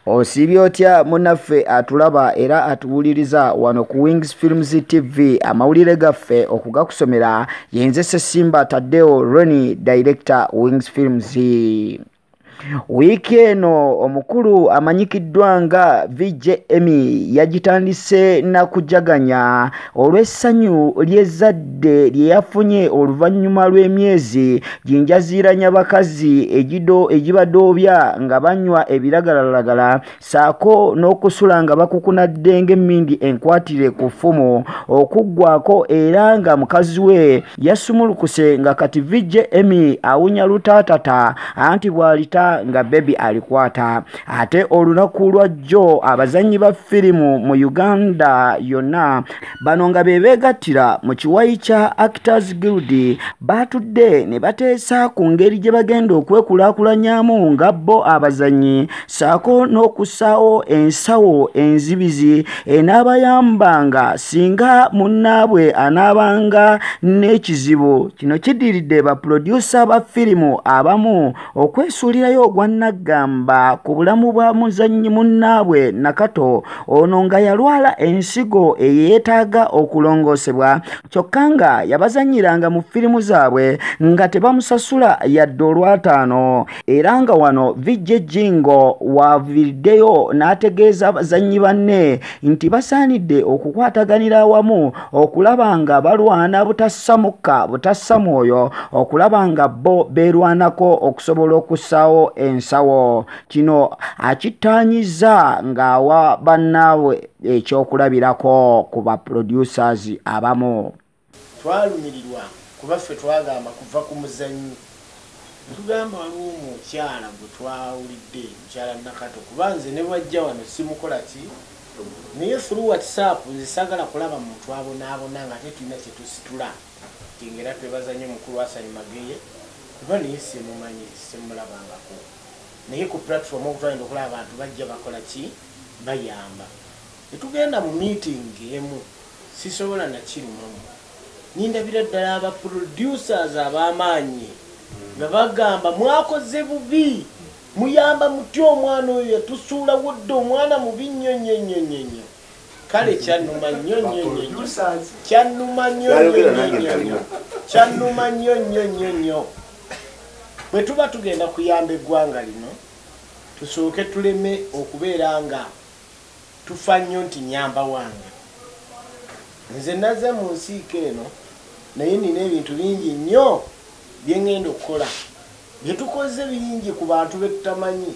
osiibye otya munaffe atulaba era atuwuliriza wano ku wings films tv amawulire gaffe okugakusomera yenze sesimba tadeo roni director wings films wiiki eno omukulu amanyikiddwa nga vj emy yagitandise nakujaganya olw'essanyu ly'ezzadde lye yafunye oluvannyuma lw'emyezi ginjaziiranya bakazi egido egibadoobya nga banywa ebiragalalagala saako n'okusula nga bakukunadde ng'emmindi enkwatire ku ffumu okuggwako era nga mukazi we yasumulukuse nga kati vijje emi awunya lutaatata anti bw'alita nga bebi alikwata ate olunaku lwa jjo abazannyi ba firimu mu uganda yonna bano nga be beegattira mu kiwayi kya actors guild baatudde ne bateesa ku ngeri gye bagenda okwekulaakulanyamu nga bo abazannyi saako n'okussaawo ensawo enzibizi enaabayambanga singa munnaabwe anaabanga n'ekizibu kino kidiridde bapulodyusa ba firimu abamu okwesuulirayo ogwannaggamba ku bulamu bwa muzannyi munnaabwe nakato ono nga yalwala ensigo eyeetaaga okulongoosebwa kyokka nga yabazannyiranga mu firimu zaabwe nga tebamusasula yadde olwataano era nga wano vijje jingo waaviriddeyo n'ategeeza bazannyi banne nti basaanidde okukwataganira awamu okulaba nga balwana butassa mukka butassa mwoyo okulaba nga bo beerwanako okusobola okussaawo ensawo kino akittaanyiza ng'awa bannaabwe ekyokulabirako ku ba producers abamu twalumirirwa kuba ffe twagamba kuva ku muzannyi Yatugamba waliwo omukyala gwe twawulidde, mukyala Nakato kuba nze ne bw'ajja wano simukola ki naye through WhatsApp nze saagala kulaba muntu abonaabona ng'ate tulina kye tusitula. Kati ng'era twebaza nnyo mukulu Hassan Mageye kuba naye simumanyi, simulabangako naye ku platform okutwala nti okulaba abantu bajja bakola ki bayamba. Tetugenda mu meeting emu sisobola nakirumamu nindabira ddala aba producers abamaanyi nga bagamba mwakoze bubi muyamba mutya omwana oyo yatusuulawo dda omwana mubi nnyo nnyo nnyo nnyo nnyo kale kyanuma nnyo nnyo nnyo nnyo kyanuma nnyo nnyo nnyo nnyo nnyo kyanuma nnyo nnyo nnyo nnyo bwe tuba tugenda kuyamba eggwanga lino tusooke tuleme okubeera nga tufa nnyo nti nyamba wange nze naze mu nsiika eno naye nina ebintu bingi nnyo byengenda okukola byetukoze bingi ku bantu betutamanyi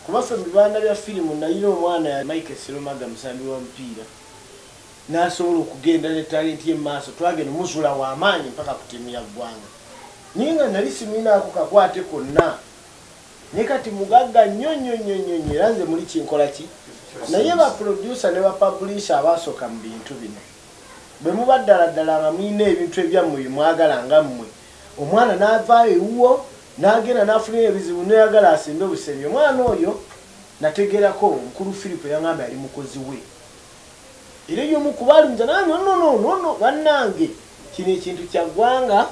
kubaffe mu bibanda bya firimu nayina omwana ya mike sirumaga musambi wa mupiira nasobola okugenda ne talenti ye mumaaso twagenda muzula wamaanyi mpaka ku tiimu ya ggwanga naye nga nali simuyinaako kakwate konna naye kati mugagga nnyo nnyo nnyo nnyo nnyo era nze muli kinkola ki naye baproducer ne bapublisha abaasoka mu bintu bino bwe muba ddala ddala nga mulina ebintu ebyammwe bye mwagala nga mmwe omwana n'avaayo ewuwo n'agenda n'afunira ebizibu noyagala asimbe busembi omwana oyo nategerako mukulu philip yangamba yali mukozi we era eyomu kubalunza naye nonononono bannange kino ekintu kyaggwanga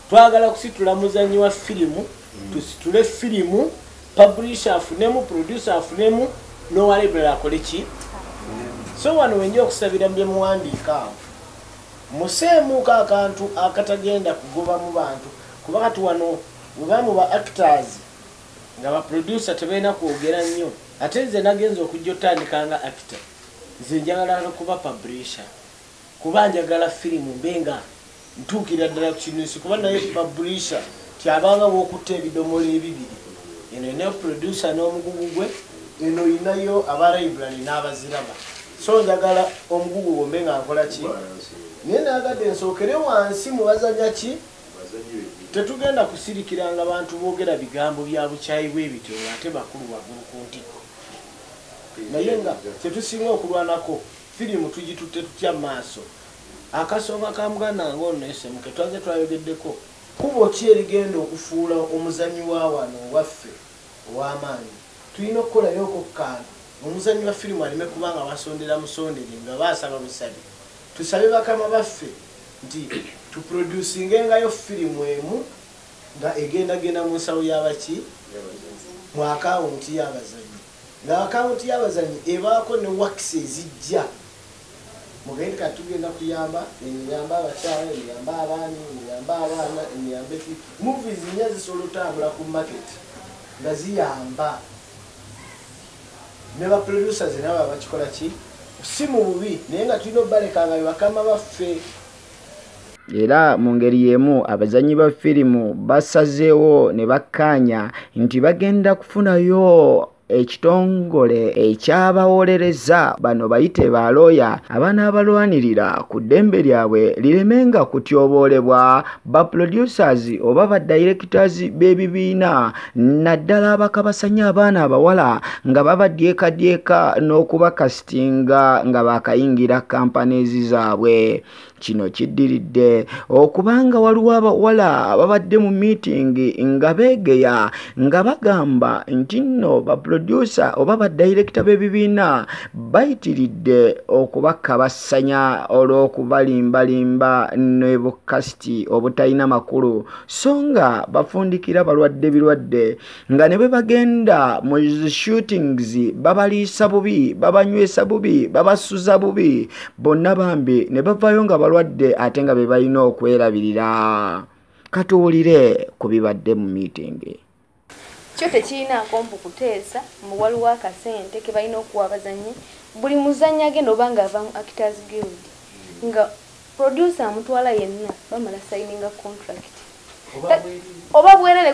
twagala kusitula muzanyi wa firimu mm. tusitule firimu publisha afunemu producer afunemu nowalebulala akole ki so wano wenja okusabira byemuwandiika awo museemuuka akantu akatagenda kugoba mu bantu kuba kati wano webamu ba actors nga baproducer tebalina kwogera nnyo Ate nze nagenze okujja otandika nga actor nze njagala nokuba publisher kuba njagala film mbe nga ntuukira ddala kukinusi kuba naye publisher tyabanga wokutta ebidomola ebibiri eno ina producer n'omugugu gwe eno inayo aba library n'abaziraba so njagala omugugu gwo mbe nga nkola ki naye nagadde nsookere wansi mubazanya ki Tetugenda kusirikiranga bantu boogera bigambo bya bukyayi bwe bityo ng'ate bakulu waggulu ku ntikko. Naye nga kye tusinga okulwanako, firimu tugitutte tutya mu maaso? Akasonga ka muganda nga ono ne Semuke twazze twayogeddeko. Kkubo ki erigenda okufuula omuzannyi wa wano ewaffe ow'amaanyi? Tulina okukolayo okokkaano omuzannyi wa firimu aleme kuba nga basondera musondere nga basaba busabi. Tusabe bakama baffe nti tuproducingengayo firimu emu nga egendagenda mu nsawo yabaki mu akawunti yabazanyi nga akawunti yabazanyi ebaako ne wakisi ezijja mugende kati tugenda kuyamba emiyamba abakyala emiyamba abaani emiyamba abaana emiyamba eki muvi zinya zisobola otambula ku maketi nga ziyamba ne ba producers nabo abakikola ki si mu bubi naye nga tulina obaleka nga bebakama baffe era mu ngeri y'emu abazannyi ba firimu basazeewo ne bakkaanya nti bagenda kufunayo ekitongole ekyabawolereza bano bayite ba looya abanaabalwanirira ku ddembe lyabwe liremenga kutyoboolebwa ba producers oba ba directors b'ebibiina naddala abakabasanya abaana abawala nga babadyekadyeka n'okubakasitinga nga bakayingira kampaneezi zaabwe kino kiddiridde okubanga waliwo abawala babadde mu miitingi nga beegeya nga bagamba nti nno baprodusa oba badayirekita b'ebibiina bayitiridde okubakabasanya olw'okubalimbalimba ne bukasiti obutalina makulu so nga bafundikira balwadde birwadde nga ne bwe bagenda mu shootings babaliisa bubi babanywesa bubi babasuza bubi bonna bambi ne bavayo nga balwadde ate nga be balina okwerabirira katuwulire ku bibadde mu miitingi kyo tekirinaako mbu kuteesa mbu waliwo akasente ke balina okuwa abazannyi buli muzannyi agenda oba nga ava mu actors guild nga producer amutwala yenna bamala sayininga contract oba bwerere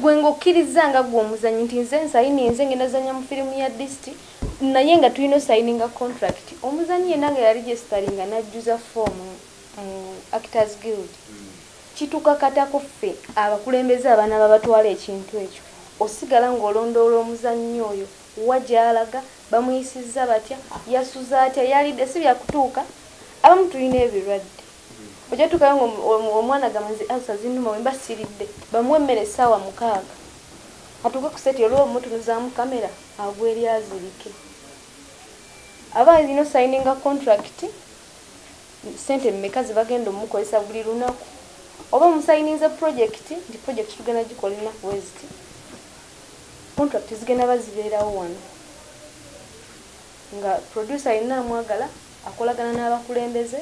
gwe ngaokkiriza nga gwe omuzannyi nti nze nsayininze ngenda zanya mu firimu ya disiti naye nga tulina osayininga contract omuzannyi yenna nga yali gyesitalinga n'ajjuza foomu mu Actors Guild kitukakata ku ffe abakulembeze abanaba batwala ekintu ekyo osigala ng'olondoola omuzannyi oyo wa gy'alaga, bamuyisizza batya, yasuze atya, yalidde si bya kutuuka abamu tulina ebirwadde ojja tuukayo ng'omwana gamba nze alsa zinnuma bwe mba siridde bamuwa emmere essaawa mukaaga atuuke ku seti olwo omutunuzaamu kamera agwa eri azirike aba alina osayininga kontulakiti sente meka zebagenda omukozesa buli lunaku oba musayininze project nti project tugenda gikola enaku weziti contract zigenda bazibeerawo wano nga producer yenna amwagala akolagana n'abakulembeze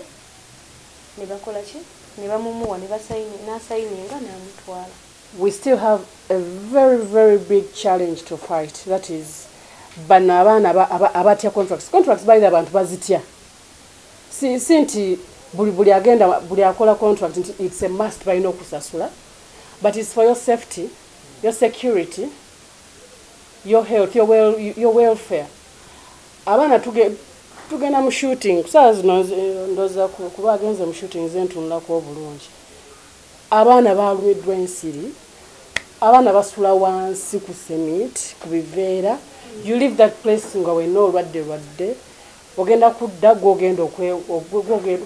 ne bakola ki ne bamumuwa n'asayininga n'amutwala we still have a very very big challenge to fight that is bano abaana abatya contracts contracts balina abantu bazitya si si nti buli buli agenda buli akola contract nti it's a must balina okusasula but it's for your safety your security your health your, well, your welfare abaana tugenda mu shooting kusaawa zino ndoza kuba agenze mu shooting ze ntunulako obulungi abaana balumiddwa ensiri abaana basula wansi ku semit ku biveera you leave that place nga wenna olwadde lwadde ogenda kudda gwogenda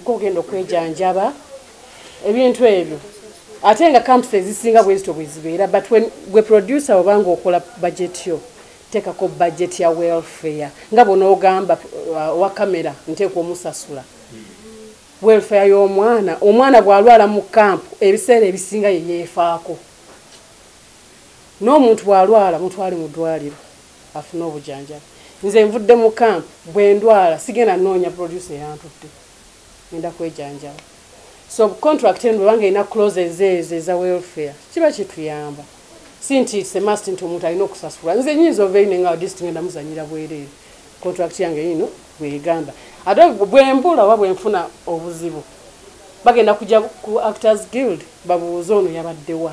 gwogenda okwejanjaba ebintu ebyo ate nga camps ezisinga bwezito bwezibeera but when gwe producer obanga okola budget yo tekako budget ya welfare nga bwonaogamba uh, wa kamera nteekwa omusasula welfare y'omwana omwana bwalwala mu camp ebiseera ebisinga yeyeefaako n'omuntu bwalwala mutwale mu ddwaliro afune obujanjabi nze nvudde mu camp bwendwala sigenda noonya producer eyantutte ngenda kwejanjaba so contract eno bwebanga erina closes ezo eza welfare kiba kituyamba si nti it's a must nti omuntu alina okusasula nze nyinza ovaeyo nenga dist ngenda muzanyira bwereere contract yange yino bwegamba ate bwembula oba bwenfuna obuzibu bagenda kuja ku actors guild babuuze ono yabaddewa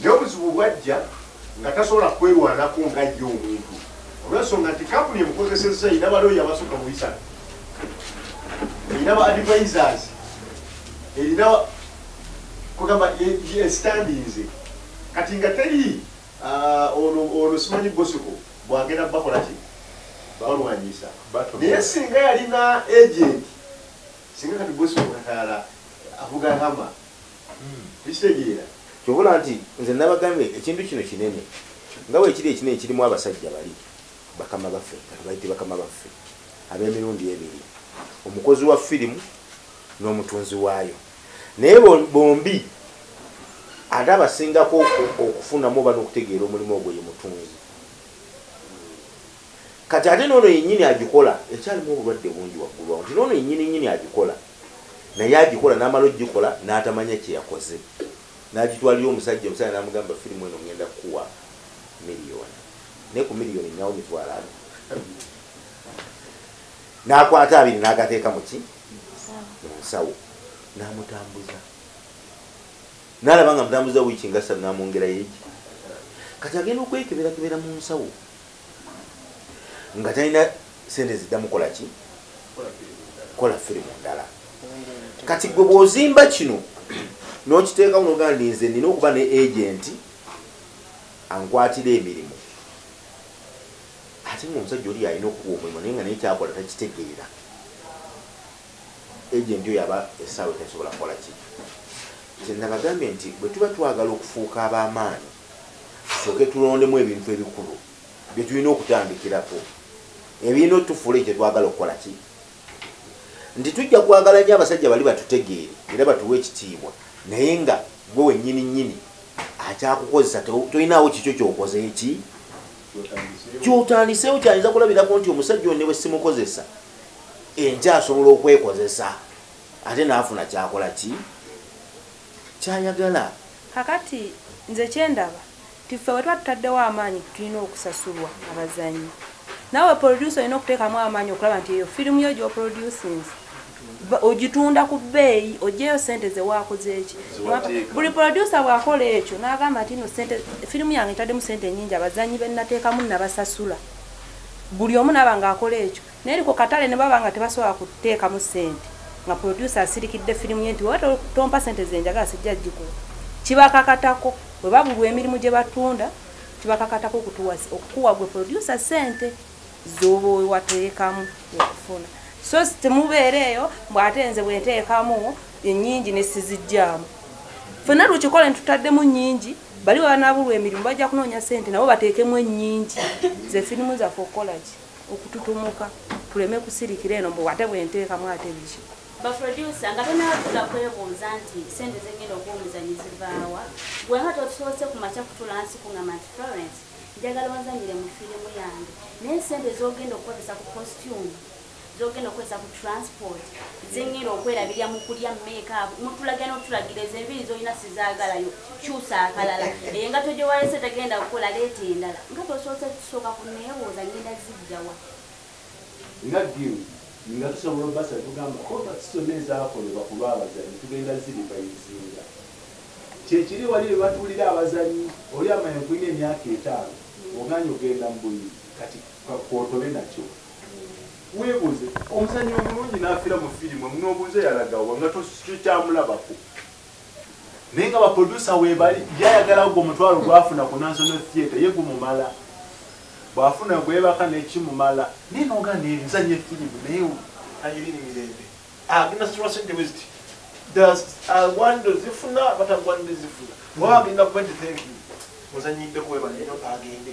Naye obuzibu bwajja nga tasobola kwerwanako nga ye omuntu olwensonga nti kampuni emukozesezza erina balooya abasukka mu bisatu erina ba advisers erina kugamba esitandinze kati nga teri ah, ono simanyi bosiko bwagenda bakola ki balwanyisa naye singa yalina agenti singa kati bosiko katayala avuga hama ekitegeera kyobola nti nze nabagambye ekintu kino kinene nga wekiri ekinene kirimu abasajja bali bakama baffe katubayite bakama baffe ab'emirundi ebiri omukozi wa firimu n'omutunzi waayo naye bombi ate abasingako okufunamu oba n'okutegeera omulimu ogwo ye mutunzi kati ate noono yenyini agikola ekyalimu obulwadde bungi waggulu awo nti noono yenyini nyini agikola naye agikola n'amala ogikola n'atamanya kye yakoze n'agitwalira omusajja omusajja n'amugamba firimu eno ngenda kukuwa miliyoni naye ku miliyoni nyawo mitwalo ano n'akwata abiri n'agateeka mu ki mu nsawo n'amutambuza n'alaba nga mutambuza wiiki nga ssatu n'amwongerayo eki kati agenda okwekeberakebera mu nsawo nga talina sente zidda mukola ki kola firimu ndala kati gwe bwozimba kino nokiteekamu nogaa ndi nze nina okuba ne agenti ankwatira emirimu ate nga omusajja oli yalina okukuwa omulimu naye nga naye kyakola takitegeera agenti oyo aba esaawa etasobola kukola ki kyenabagambye nti bwe tuba twagala okufuuka ab'amaanyi tusooke tulondemu ebintu ebikulu bye tulina okutandikirako ebirina otufuula ekyo twagala okukola ki nti tujja kwagala nyo abasajja bali batutegeere era batuwa ekitiibwa naye nga gwe wenyini nyini akyakukozesa tolinaawo kikyo kyokoze eki kyotandiseewo kyayinza kulabirako nti omusajja one bwesimukozesa enkyasobola okwekozesa ate naafuna kyakola ki kyayagala. Kakati nze kyendaba nti ffe wetuba tutaddewo amaanyi nti tulina okusasulwa abazanyi nawe producer olina okutekamu amaanyi okulaba nti eyo firimu yo gyoproducinze ogitunda ku bbeeyi ojeyo sente zewakozeeki buli producer bwakola ekyo nagamba nti no sente firimu yange ntaddemu sente enyingi abazanyi benatekamu nabasasula buli omu naba nga akola ekyo Naye ku katale ne baba nga tebasobola kuteekamu ssente nga producer asirikidde firimu ye nti oba tompa ssente ze njagala sijja gikuwa kibakakatako bwe babulwa emirimu gye batunda kibakakatako okukuwa gwe producer ssente z'oba wewateekamu okufuna so temubeera eyo mbw ate nze bwenteekamu ennyingi ne sizijjaamu fenna lukikole ntutaddemu nnyingi bali webanabulwa emirimu bajja kunoonya ssente nabo bateekemu ennyingi ze firimu zaffe okukolaki okututumuka tuleme kusirikira eno mbu ate bwenteekamu ate biki baproducer nga tonatula kwebuuza nti sente zengenda okuwa omuzanyi zivaawa gwenga totusoose ku makya kutula nsi kungamba nti florence njagala onzanyire mu firimu yange naye sente zogenda okukozesa ku costume zogenda okukozesa ku transport zengenda okwerabirya mu kulya meekaabu mutulagira notulagira ezo enviri zolina sizaagalayo kyusa akalala engato gye walese tagenda kukola leeta endala nga tosoose kusooka ku neebuuza ngenda zijjawa nga gimu nga tusobola obasa tugamba kobati zonna ezakolebwa ku lw'abazanyi tugenda ziriba ebizinga kyekiri wali be batuulira abazanyi oli amanya kulina emyaka etaano oganye ogenda mu buyi kati kwotobe nakyo weebuuze omuzanyi omulungi n'afira mu firimu omunoobuuze yalagawa nga tokyamulabako naye nga baproducer webali yayagala gwe omutwalo gwafuna ku national theatre ye gumumala bwafuna gwebaka nekimumala naye noga nezanye firimu naye ayiriri mirembe agenda situla sente weziti agwanira zifuna batagwanira zifuna waba agenda kuba nti thank you muzanyidde kuwebali agende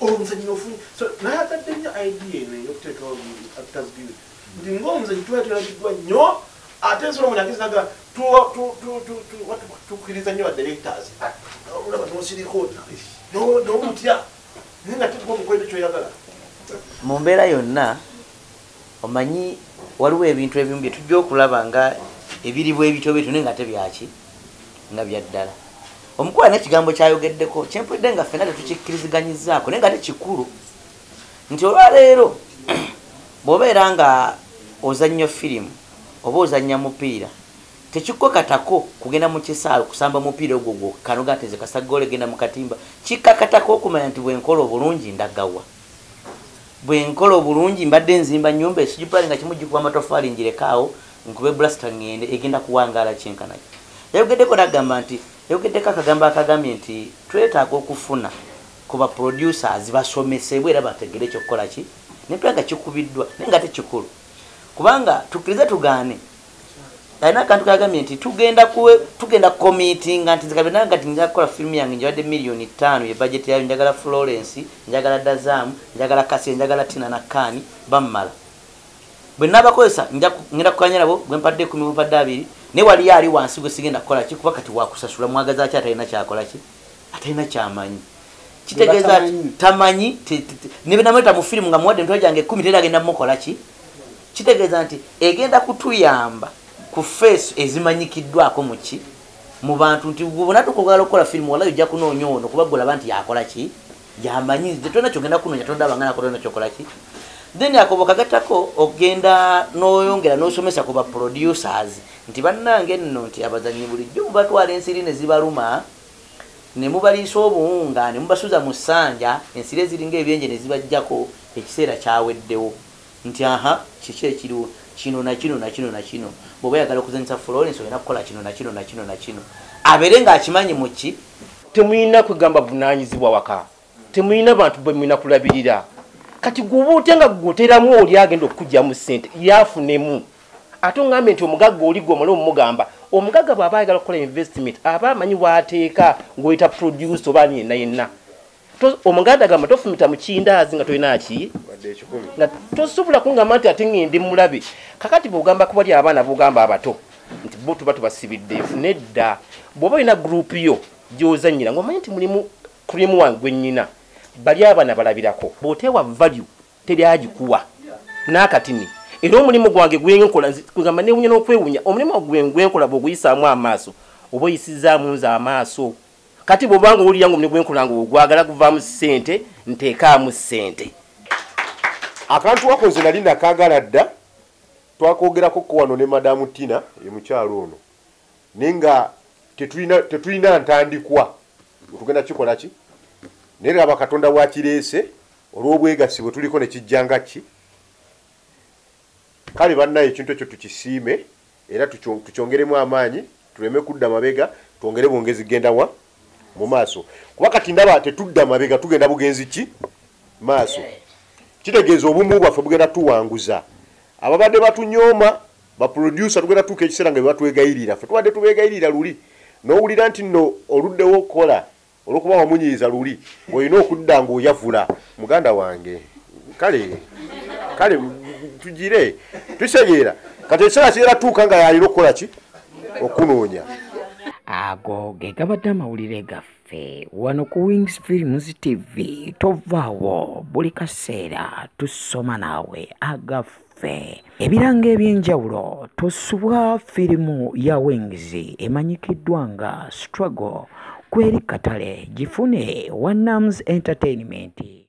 olumuzanyi ofunye so nayagadde nnyo idea eno eyokuteekawo actors guild nti ngaomuzanyi tuba tulabiddwa nnyo ate nsolo munagezaga tukiriza nnyo badirectors olaba nosiriko nomutya naye nga tegwa omukwete kyoyagala mu mbeera yonna omanyi waliwo ebintu ebimu bye tujja okulaba nga ebiri bwebityo bwetyo naye nga ate byaki nga byaddala omukwala nekigambo kyayogeddeko kyempulidde nga ffena tetukikkiriziganyizaako naye nga ate kikulu nti olwaleero bwobeera nga ozannyo firimu oba ozannya mupiira tekikkakatako kugenda mu kisaalo kusamba mupiira ogwo gwokka noga nteze kasaggoole genda mu katimba kikkakatako okumanya nti bwenkola obulungi ndagawa bwenkola obulungi mbadde nzimba nyumba esijupali nga kimu gikuba amatofali njirekaawo nkube bulasita ngende egenda kuwangaala kyenkanaki yayogeddeko nagamba nti yayogeddeko akagambo akagambye nti twetaaga okufuna ku ba producers basomesebwe era bategere ekyokukola ki nepera nga kikubiddwa naye nga tekikulu kubanga tukkirize tugaane alina akantu kagambye nti tugenda tugenda kukomitinga nti nzika byonna ngati nja kukola firimu yange njabadde miliyoni ttaano ye bajeti yayo njagala florence njagala dazaamu njagala kasiya njagala tina nakkaani bammala bwe nabakozesa ngenda kukanya nabo gwe mpadde ekumi mumpadde abiri naye waliyo ali wansi gwe sigenda kukola ki kuba kati wakusasula mwagaza ki atalina kyakola ki atalina kyamanyi kitegeeza tamanyi nebenamuleta mu firimu nga muwadde emitwe gyange ekumi tera agenda mukola ki kitegeeza nti egenda kutuyamba ku feesu ezimanyikiddwako muki mu bantu nti gubona tukugala okukola firimu walayi ojja kunoonya ono kuba gulaba nti yakola ki yamanyi nze tolina kyogenda kunoonya tondaba nga nakolana kyokola ki then akobo kagatako ogenda noyongera nosomesa ku baproducers nti bannange nno nti abazanyi bulijjo mubatwala ensiri ne zibaluma ne mubaliisa obuwunga ne mubasuza mu ssanja ensiri eziringa ebyenje ne zibajjako ekiseera kyaweddewo Nti, Aha, kiki ekiriwo? Kino, na kino, na kino, na kino. Bw'oba oyagala okuzannyisa Florence, olina kukola kino, na kino, na kino, na kino. Abeere nga akimanyi mu ki. Temulina kwegamba buvunaanyizibwa waka. Temulina bantu be mulina kulabirira. Kati gwe oba otya nga gwe oteramu oli agenda okukuggyamu ssente, ye afunemu? Ate ongambye nti omugagga oli gwe omala omugamba. Omugagga bw'aba ayagala okukola investment, aba amanyi w'ateeka, ng'oyita producer oba ani yenna yenna. omuganda gamba tofumita mukindaazi nga tolina ki nga tosobola kungamba nti ate ngendi mulabe kakati bwogamba kubali abaana bogamba abato nti bo tuba tubasibidde nedda bwoba olina gurupu yo gyozanyira ngaomanyi nti mulimu krimu wange gwenyina bali abaana balabirako bwotewa value teri agikuwa nakatini era omulimu gwange gwenkolanamba newunya nokwewunya omulimu gwe gwenkola bwoguyisaamu amaaso oba oyisizaamu nze amaaso kati bwobanga owulira ngaomuli gwenkolanga ogwagala guvaamu sente nteekaamu sente akantu wako nze nali nakagala dda twakwogerako ko wano ne madamu tina emukyalo ono naye nga tetulina ntandikwa otugenda kikola ki naye laba katonda wakireese olw'obwegassi bwe tuliko ne kijja nga ki kale bannayo ekintu ekyo tukisiime era tukyongeremu amaanyi tuleme kudda mabega twongere bwongezi genda wa mu maaso kuba kati ndaba tetudda mabega tugenda bugenzi ki maaso kitegeeza obumu bwaffe bugenda tuwanguza ababadde batunyooma baproducer tugenda tuuka ekiseera nga bebatwegayirira fe tubadde tubegayirira luli nowulira nti no oluddewo okukola olwokuba wamunyiiza luli olina okudda ngaoyavula muganda wange kale kale tugire tusegeera kati ekiseera kigera tuuka nga yalina okukola ki okunoonya ago ge gabadde amawulire gaffe wano ku wings films tv tovaawo buli kaseera tusoma naawe agaffe ffe ebirango ebyenjawulo tusubwa firimu ya wings emanyikiddwa nga struggle kweri katale gifune wanams entertainment